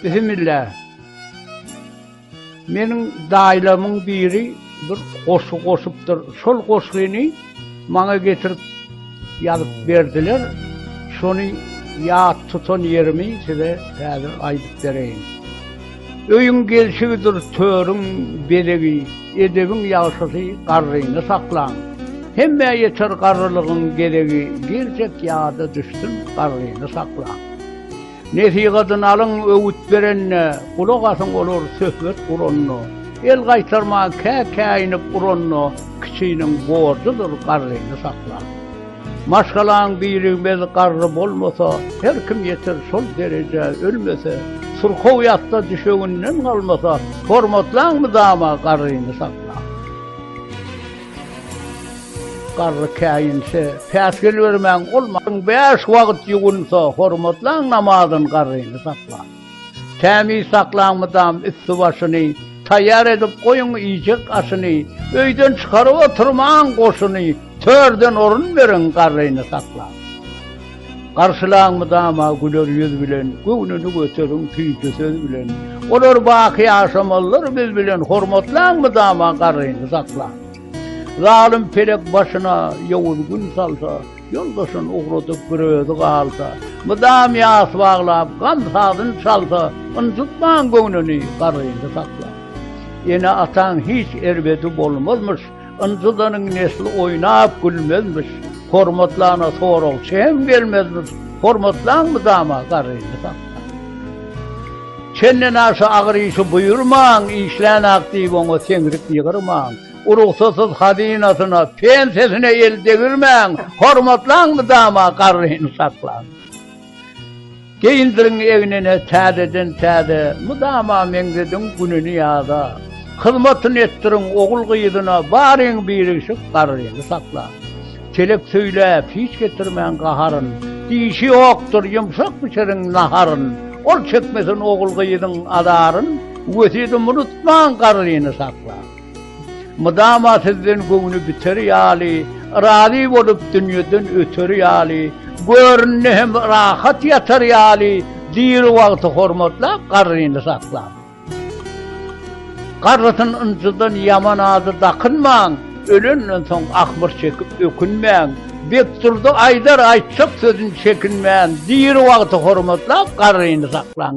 Bismillah. Meniň daýlamyň biri bir goşgy goşupdyr. Şol goşgyny Maňa getirip ýazyp berdiler. Şony ýat tutan ýerimi size häzir aýdyp bereýin. Öýüň gelşigidir törüň bezegi, edebiň ýagşysy garryny saklan. Hemmä ýeter garrylygyň gezegi, girjek ýada düşsün garryny saklan. Nesihatyny alyň, öwüt berende, gulak asyň olar söhbet guranda, el gaýtarman kä-käýinip uranda, kiçiniň borjudyr garryny saklap. Maşgalaň birigmez garry bolmasa, her kim ýeter şol derejä, ölmese, syrkaw ýatsa düşeginden galmasa, hormatlaň mydama garryny saklap. Garry käýinse, päsgel bermäň, ol maň bäş wagt ýuwunsa, hormatlaň namazyn garryny saklap. Tämiz saklaň mydam üsti-başyny, taýýar edip goýuň iýjek aşyny, öýden çykaryp oturmaň goşuny, törden orun beriň garryny saklap. Garşylaň mydama güler ýüz bilen, Göwnüni göteriň süýji söz bilen. Olar baky ýaşamalydyr biz bilen, Hormatlaň mydama garryny saklaň. Zalym pelek başyna ýowuz gün salsa, Ýoldaşyn ugradyp bir özi galsa, Mydam ýas baglap gam sazyn çalsa, Ynjytmaň göwnüni garryny saklaň. Ene-ataň hiç erbedi bolmazmyş, Ynjydanyň nesli oýnap gülmezmiş, Hormatlana soragçy hem gelmezmiş, Hormatlaň mydama garryny sakga. Çenden aşa agyr işi buýurmaň, Işlän-ak diýip oňa seňrik ýygyrmaň, Urugsasyz hazynasyna, pensiýasyna el degirmäň, Hormatlaň mydama garryny saklaň. Geýindirin egnine täzeden-täze, mydama meňzediň gününi ýaza. Hyzmatyny etdiriň ogul-gyzyna, baryň birigşik garryny sakla. Telek söýläp, hiç getirmäň gaharyn, dişi ýokdur, ýumşak bişiriň naharyn. Ol çekmesin ogul-gyzyň azaryn, wesýedimi unutmaň garryny sakla. Mydama sizden göwni biter ýaly, Razy bolup dünýeden öter ýaly, Görnde hem rahat ýatar ýaly, Diri wagty hormatlap, garryny saklap. Garrysyn ynjydan ýaman ady dakynmaň, Ölenden soň ahmyr çekip ökünmäň, Bekdurdy aýdar aýtjak sözün çekinmän, Diri wagty hormatlap, garryny saklaň.